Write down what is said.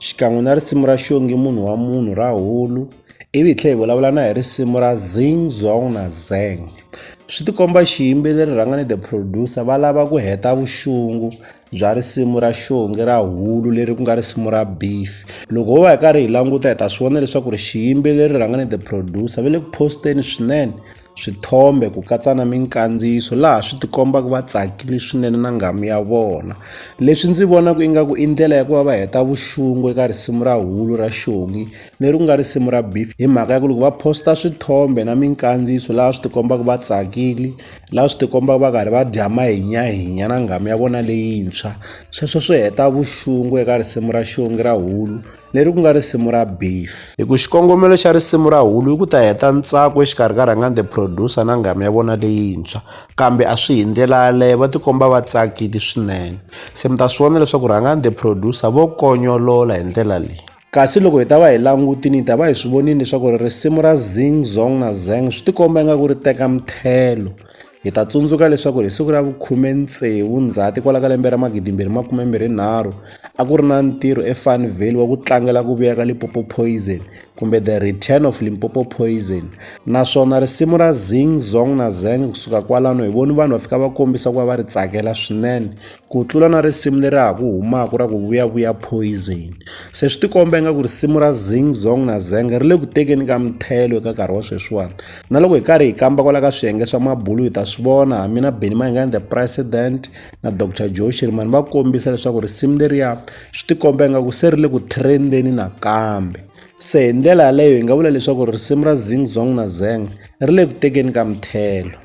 xikan'we na risimu ra xongi munhu wa munhu ra hulu ivi hi tlhela hi vulavula na hi risimu ra zing zong na zeng swi tikomba xiyimbeleri rhanga ni the producer va lava ku heta vuxungu bya risimu ra xongi ra hulu leri ku nga risimu ra beef loko ho va hi karhi hi languta hi ta swi vona leswaku ri xiyimbeleri rhanga ni the producer va le ku posteni swinene swithombe ku katsa na minkandziyiso laha swi tikombaka va tsakile swinene na nghamu ya vona leswi ndzi vonaka ingaku i ndlela ya ku va va heta vuxungu eka risimu ra hulu ra xongi leri ku nga risimu ra beef hi mhaka ya ku loko va posta swithombe na minkandziyiso laha swi tikombaka va tsakile laha swi tikombaka va karhi va dya mahinyahinya na nghamu ya vona leyintshwa sweswo swi heta vuxungu eka risimu ra xongi ra hulu leri ku nga risimu ra Beef. Hi ku xikongomelo xa risimu ra Hulu i ku ta heta ntsako exikarhi ka Rhangani the Producer na nghamu ya vona leyintshwa, kambe a swi hi ndlela yaleyo, va tikomba va tsakile swinene. Se mi ta swi vona leswaku Rhangani the Producer vo konyolola hi ndlela leyi. Kasi loko hi ta va hi langutini hi ta va hi swi vonile leswaku risimu ra Zing Zong na Zeng swi tikomba ingaku ri teka mthelo Hi ta tsundzuka leswaku hi siku ra vukhume-tsevu Ndzhati kwala ka lembe ra magidimbirhi makume-mbirhi-nharhu, a ku ri na ntirho eFarnvale wa ku tlangela ku vuya ka Limpopo Poison kumbe The Return of Limpopo Poison. Naswona risimu ra Zing Zong na Zeng kusuka kwalano hi voni vanhu va fika va kombisa ku va va ri tsakela swinene Ku tlula na risimu leri ha ku humaka ra ku vuyavuya poison se swi tikomba ingaku risimu ra zing zong na zeng ri le ku tekeni ka mithelo eka nkarhi wa sweswiwani na loko hi karhi hi kamba kwala ka swiyenge swa mabulu hi ta swi vona ha mina beni mahingani the president na dr joe shirimani va kombisa leswaku risimu leriya swi tikomba ingaku se ri le ku trendeni nakambe se hi ndlela yaleyo hi nga vula leswaku risimu ra zing zong na zeng ri le ku tekeni ka mithelo